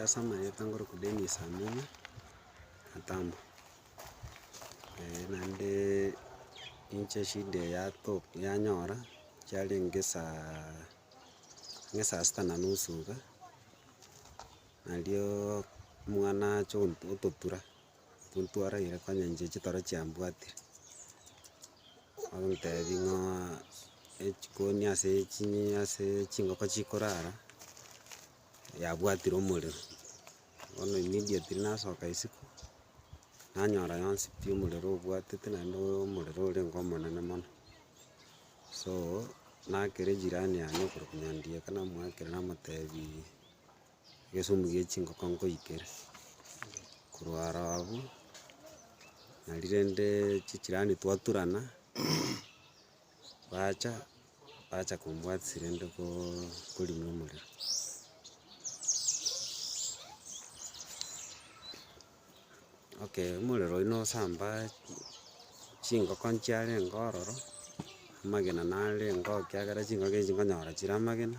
Ase amanyete nkoroku Dennis Amina Atamba, naende inche shida yato yanyora chiarenge saa ringe saa sita na nusu iga, nario omwana ache ototura. Tontwaragera konya inche chitoro chiambwatire, ogotebi ng'aa echikoni ase chinyi ase chingoko chikorara, yabwatire omorero, bono immediately nasoka isiko, nanyora yonsi pi omorero obwatete naende oyo omorero orenge omonene mono. So, nakera ejirani yane okorokwa nyandiye ekero namoakera namotebiiii. Egesumbu gie chingoko nkoikere, korwa aro abwo, nari rende chijirani twaturana, bacha bacha kombwatisia rende koooo korina omorero. Okay omorero oyio nosamba chingoko nchiarenge ororo, amagena narenge oo ekiagera chingoko echi nkonyora chire amagena.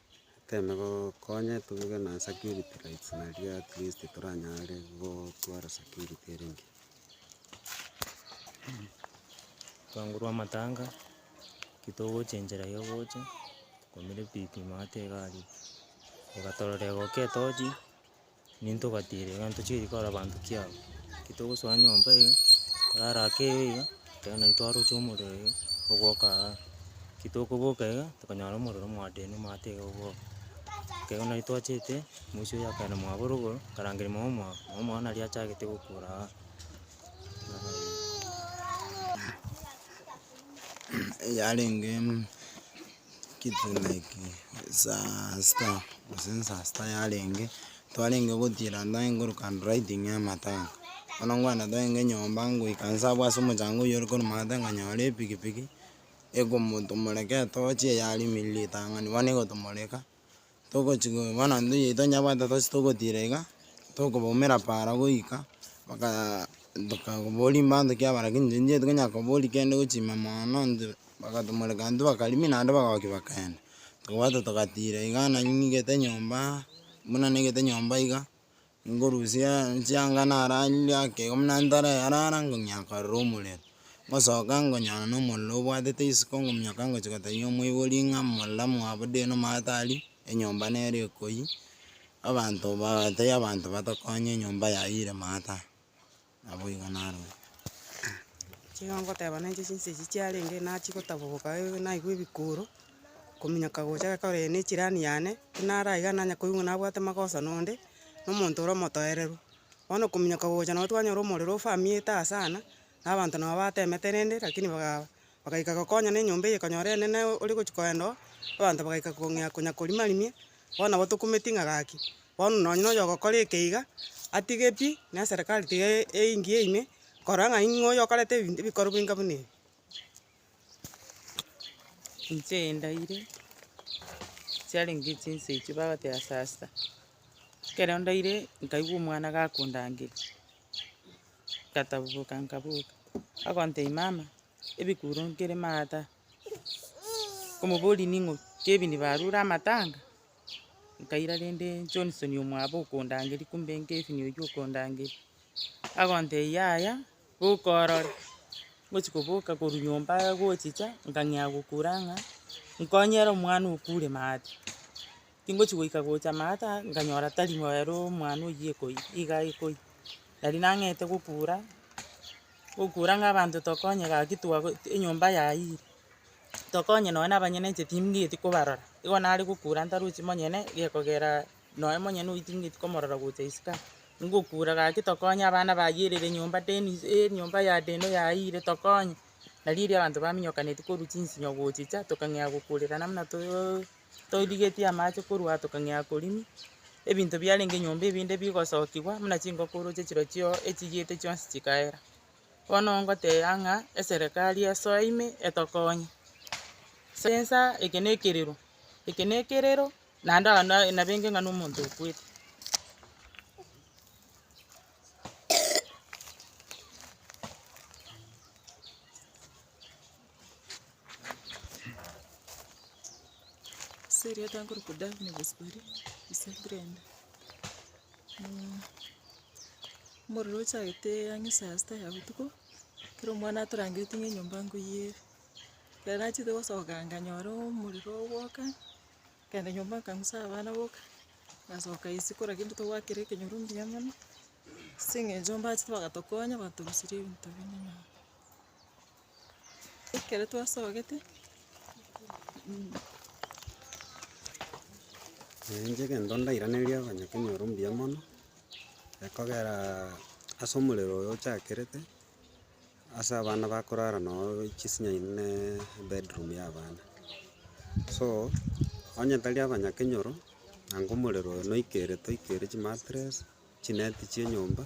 Toteme gokonya tuge na security lights naende at least toranyare gotwara security ere engiya. Twangorwa amatanga, ekero togocha enchera ya ogocha, twakumire pi pi maate egari, egatorora egoka etochi. Ninto ogatiira iga ntochigari kora abanto ki aba, ki togosoa nyomba iga, korara ake eyo iga, ekero nari twaroche omorero iga, togoka aa, ki tokoboka iga, tokonyora omorero mwadeni omanyete iga oboke. Ekero nari twachete, moisho oyo akaenda mwabo rogoro, akarangeria mama omwabo, mama omwabo nari achagete gokora aa. yarenge. Kitu like saa sita gose saa sita yarenge, twarenge gotiira ndagete nkoroka handwriting ya matanga, bono ngwana togende nyomba ngoika nse abwo ase omochango oywo ore korwa maate nkanyora epikipiki, ekomotomoreka etochi eyarimirire ritang'ani bono egotomoreka. togochi go bono intwe oyo tonyabwate tose togotira iga, tokobaumera para goika, bakaa tokaboria mbato kiaba lakini intwe nchiaye tokonyara koboria kende gochima mono intwe, bakatomoreka intwe bakarimi naende bagoki bakenda. Tokobwate togatira iga nanying'ete nyomba, buna ning'ete nyomba iga, Ngorusia chianga nararire akegima buna ntare yarara ng'umia nkarora omorero, ngosoka ngonyora na omorero obwatete isiko ng'umioka ngochia gotebia omoibori ng'a morero mwabude na omanyete aria, enyomba nere ekoyia, abanto baatebia abanto batokonye enyomba yayire maate aa. Naboigo narue. Chigo ngoteba nenche chinsa echi chiarenge nachigotaboboka eh naigwe ebikuro, kominyoka gocha gekogera eye nechirani yane, buna are iga nanye koigwa nabwate magoso nonde, na omonto ore omotoereru. Bono kominyoka gocha nabo twanyora omorero ofamiete aa sana, na abanto nabo batemete rende rakini bagaa bagaika gokonyana enyomba eye ekonyora enene ore gochia koenda oo, abanto bagaika kong'ea konya korimarimia. bono nabo tokumeti ng'a gaki, bono nonye nonya ogokora ekeiga, atige pi, na eserekari tiga eingie ime, korora ng'a ing'o oyo okorete ebinto ebikorwa bwenka buna ebi. Inche endaire, chiarenge chinsa echio bagoteba sasa, ekero ndaire nkaigwa omwana gakondangeria, ngatabuboka nkaboka, agontebia mama, ebikuro nkere maate aa. Omobori ning'o? Kebie nibarure amatanga, nkaira rende Johnson omwabo okondangeria, kumbe Kevin oyio okondangeria, agontebia yaya, boka orore. Ngochia koboka korwa nyomba gochicha, nkang'ea gokura ng'a, nkonyere omwana okure maate. Tingochi goika gocha maata nkanyora tari moero omwana oyio ekoiyi iga ekoiyi. Nari nang'ete gokura, gokura ng'a abanto tokonye gaki twago enyomba yayire, tokonye nonya na abanyene inche timbegeti kobarora. Igo nare gokura ntarochi monyene gekogera nonya monyene oyio timbegeti komorora gocha isiko aa. Ngokura gaki tokonye abana bayerire enyomba deni enyomba ya deno yayire tokonye. Nari erio abanto baminyokaneti korwa chinsinyo gochicha tokang'ea gokurerana buna to. Toirigetie amache korwa aa tokang'ea akorimi, ebinto biarenge nyomba ebinde bigosokigwa, buna chingokoro chie chirochio echigiete chionsi chikaera. Bono ngoteba ng'a eserekari esoe ime etokonye. Ase ensa eke na ekerero, eke na ekerero naende ao na- nabenge ng'a na omonto okwete. omorero ochagete ang'e saa sita ya botuko, kera omwana atorangereti ng'a enyomba nkoiyere. Ekero nachete gosoka nkanyora omorero ogwoka, nkagenda nyomba nkang'usa abana boka, ngasoka ise kora kento togwakera ekenyoro mbuya mono, ase eng'encho mbachete bagatokonya batorusirie ebinto binde nyomba. Ekero twasogete, Naenche egento ndairanerie abanyakenyoro mbuya mono, ekogera ase omorero oyo ochakerete, ase abana bakorara noo chisinya ime ne ebedroom ya abana. So, onye tari abanyakenyoro, nanga omorero oyo noikere toikere chimatress, chineti chia enyomba.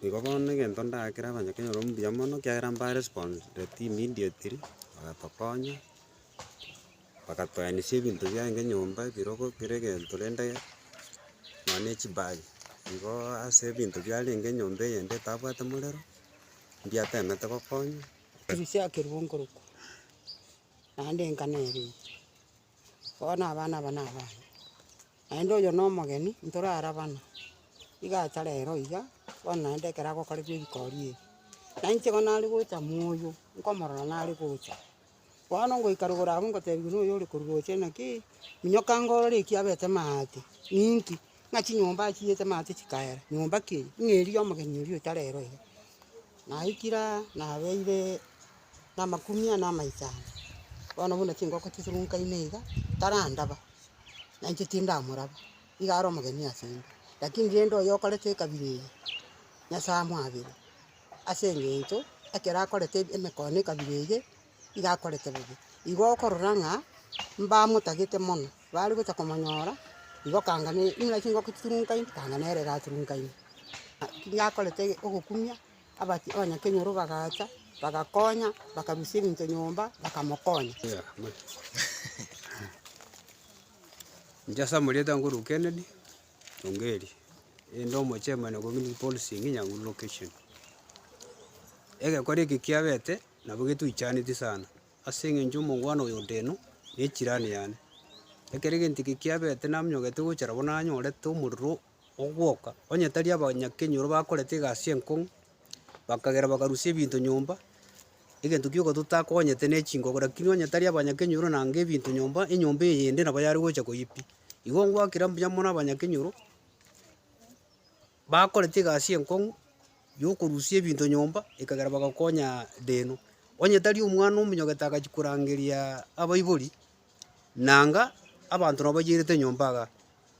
Igo bono egento ndagakera abanyakenya ororo mbuya mono, ekiagera mbarespondetie immediately, bagatokonya, bagatoenisie ebinto biaye nka enyomba, ebirogo, kera egento rende nonya chibag. Igo ase ebinto biarenge enyomba eyende etabwate morero, mbiatemete gokonywa. Bono abana aba nabane, naende oyo nomogeni ntorarabana, iga acha rero iga, bono naende ekero agokorerwa erikori eri, na inche bono nare gocha moyo, nkomorora nare gocha, bono ngoika rogoro abwo ngotebiwa noyo ore korwa ocha naki, minyoka inga orore eki abete maate, ninki? ng'a chinyomba achiyete maate chikaera, nyomba ki eye? ng'a eria ya omogeni oria ocha rero iga. Naikire aa, nabeire. na amakumia na amaisano, bono buna chingoko chisurunkaine iga, tarandaba, na inche tindamoraba, iga are omogeni ase inde, lakini rende oyo okorete ekabira eye, Nyasae amoabere, ase eng'encho ekero akorete ebi- emekoo na ekabira eye, iga akorete bobe. Igo okorora ng'a mbamotagete mono, bare gocha komonyora, igo kanga ne buna chingoko chisurunkaine, kanga nere gasurunkaine, a- ki- gakorete ogokumia. Abati abanyakenyoro bagacha, bagakonya, bakarusia ebinto nyomba, bakamokonya. Inche ase amarieta nkorwa Kennedy Ongeri, inde omochairman o community policing Nyanguru location. Egekora eke kiabete nabo getwichaneti sana, ase eng'encho omongwana oyo ondeno, ne echirani yane. Ekero egento eke kiabete namonyogete gochara bono nanyorete omorero ogwoka, onye tari abanyakenyoro bakorete egasi enkong'u, bakagera bakarusia ebinto nyomba, egento gioka totakogonyete ne chingogo, rakini onye tari abanyakenyoro na enga ebinto nyomba, enyomba eyende nabo yare gocha koyia pi. Igo ngwakera mbuya mono abanyakenyoro, bakorete egasi enkong'u ya okorusia ebinto nyomba, ekagera bagakonyaa deno. Onye tari omwana omonyogete agachia korangeria abaibori. Nanga abanto nabo bayeirete enyomba iga.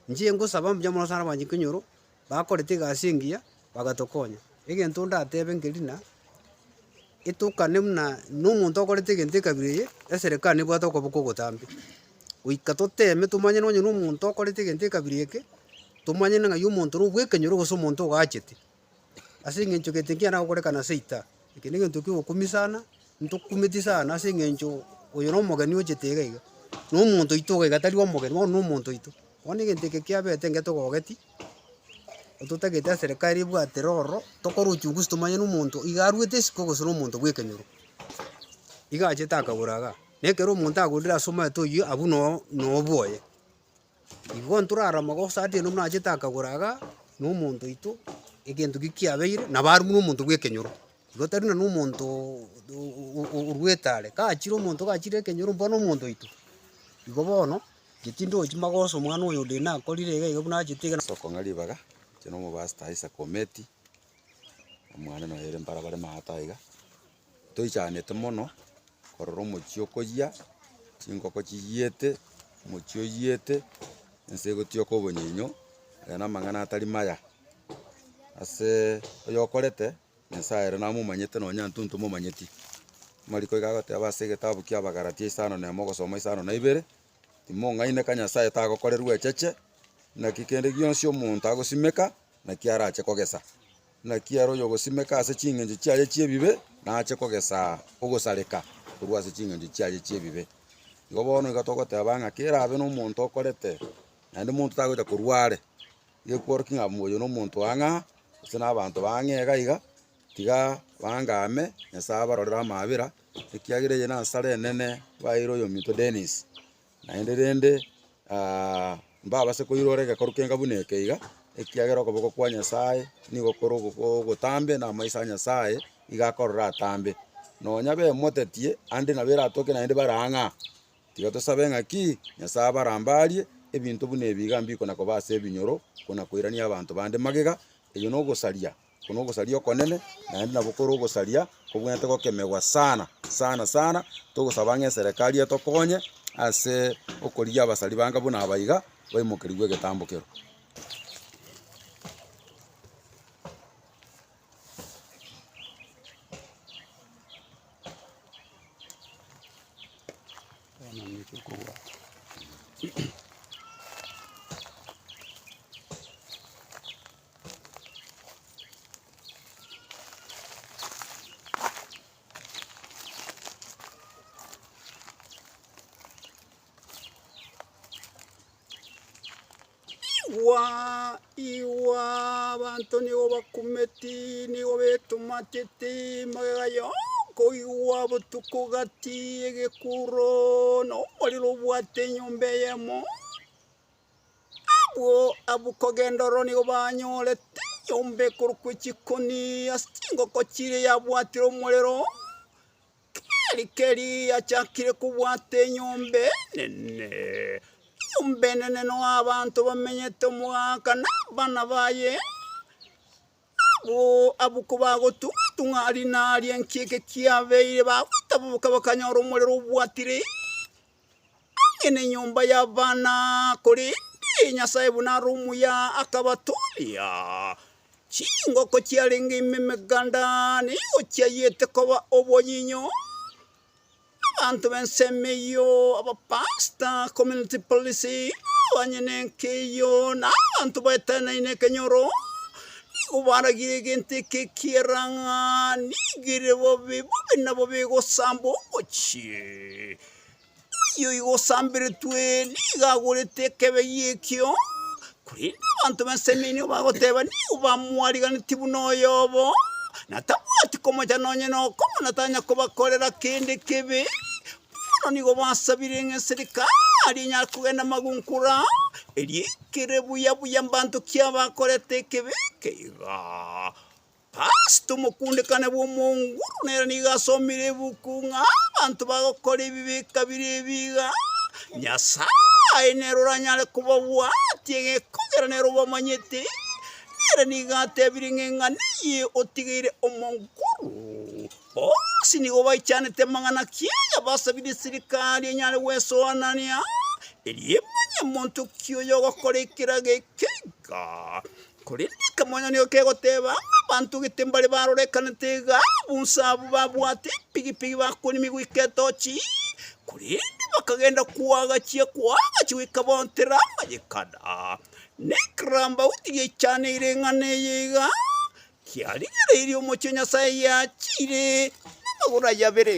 Inche ngosaba mbuya mono sana abanchiki nyoro bakorete egasi engiya bagatokonya. Egento ndatebe nkerina, etokane buna na omonto okorete egento ekabira eye, eserekari nebwate okoboko ogotambe. Goika toteme tomanye nonye na omonto okorete egento ekabira eke, tomanye ng'ai omonto ore obwekenyoro gose omonto ogachete. Ase engencho gete nkiana gokorekana ase ita, eke negento ki'ogokumia sana, ntokumeti sana ase engencho oyo nomogeni ochete iga iga, nomonto oito iga iga tari omogeni, bono nomonto oito. Bono egento eke kiabete enga togogeti, ototagete eserekari ebwate roro, tokore uchunguzi tomanye na omonto iga aruete isiko gose nomonto bw'ekenyoro. Iga achete akagora igaa, na ekero omonto agorire ase omanyete oyio, abwo noo nobwoye. Igo ntorare amagoso atieno buna achete akagora iga na omonto oito egento ki kiabeire nabo arumwa nomonto bw'ekenyoro. Igo tari buna nomonto orwa etare kachire omonto kachire ekenyoro bono omonto oito. Igo bono geti ndochi magoso omwana oyo onde nakorire iga iga buna achete iga. Ase okong'a ribaga inche na omobasta Isaac Ometi, omwane noyo ere mbarabara Maata iga, toichanete mono, korora omochie okoyia, chingoko chiyiete, omochie oyiete, ense egotioka obonyinyo, aye na amang'ana atari maya. Aseee oyokorete, nyasaye ere namomanyete nonye intwe ntomomanyeti. Amariko iga agoteba ase egetabu kia abagalatia isano na emo ogosoma isano na ibere, timong'aineka nyasaye tagokorerwa echeche, naki kende gionsi omonto agosimeka, naki arache kogesa. Naki ere oyogosimeka ase chingencho chiaye chi'ebibe nache kogesa ogosareka korwa ase chingencho chiaye chi'ebibe. Igo bono igo togoteba ng'a kerabe nomonto okorete, naende monto tagocha korwa are, gekworokia ng'a oyo nomonto wa ng'a, gose nabanto bang'e iga iga, tiga bangame, Nyasaye abarorere amaabera, ekiagera eye nansara enene, baeire oyominto Dennis. Naende rende mbabase koirora egekoru kenga buna eke iga, ekiagera okoboko kwa Nyasae nigo kore ogotambe, na amaiso a Nyasae igo akorora atambe. Nonya bemotetie ande nabo eratoke naende bare ang'e aa. Tiga tosabe ng'aki Nyasae abarambarie, ebinto buna ebi iga mbikona koba ase ebinyoro, kona koirania abanto bande magega, eyio nogosaria Oko nogosaria okonene, naende nabo kore ogosaria kobwenerete gokemegwa sana sana sana, togosaba ng'a eserekari etokonye ase okorigia abasari bange buna aba iga, baimokerigwe egetambo kero. Igwa, igwa, abanto nigo bakumeti, nigo betomateti, magega yonka oigwa botuko gati, egekuro, nomorero obwate enyomba eyemo. Abwo abwo kogenda oro nigo banyorete enyomba ekorokwa echikoni ase chingoko chiria yabwatire omorero, keri keri yachakire kobwata enyomba enene, enyomba enene noyo abanto bamenyete omogaka na abana baye. Abwo abwo kobagotung'atung'a aria na aria enki eke kiabeire, bagotaboboka bakanyora omorero obwatire ang'e nenyomba y'abana, korende Nyasae buna are omuya akabatooria. Chingoko chiarenge ime emeganda nigo chiayete koba obonyinyo. Abanto b'ensemo eyio, abapasita, community police, abanyene enka eyio, na abanto baeteneine ekenyoro, nigo baragirie egento eke ekiera ng'a nigo ere bobe, bobe na bobe egosamba omochie. Oyio oigo osamberetwe nigo agorete ekebe gi'ekio, Korende abanto b'ensemo eria nigo bagoteba, Nigo bamwarigeretie buna oyobo, na tabwati komocha nonye nokomo, na tanya kobakorera kende kebe. Bono nigo basabire ng'a eserikari aria enyare kogenda magunkora, erio ekere buya buya mbanto ki abakorete ekebe eke igaa. Ase omokundekane bw'omonguru nere nigo asomire ebuku ng'a abanto bagokora ebibe kabere ebi iga, Nyasae nere oranyare kobabwatia egekogera nere obamanyete, nere nigo atebire ng'a eng'ana eye otigeire omonguru. Bonsi nigo baichanete amang'ana kiaye basabire eserikari enyare gwesoanania, erio emanye monto ki oyogokora ekerago eke iga. Korende ekemanyererio ekegoteeba, Abanto gete mbare barorekanete iga, bonsi abwo babwate empigipigi bakorimia goika etochi, korende bakagenda koagachia, koagachia goika baontera amanyekano. Na ekerambauti giaichaneirie eng'ana eye iga, kiarigereirie omochie o Nyasae giachiire namagoro aye abere.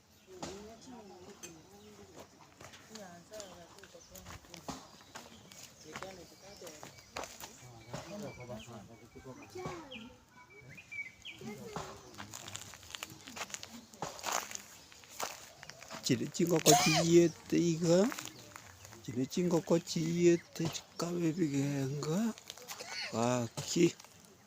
Chiria chingoko chiyiete iga, chiria chingoko chiyiete chikabe ebigenga, gaki.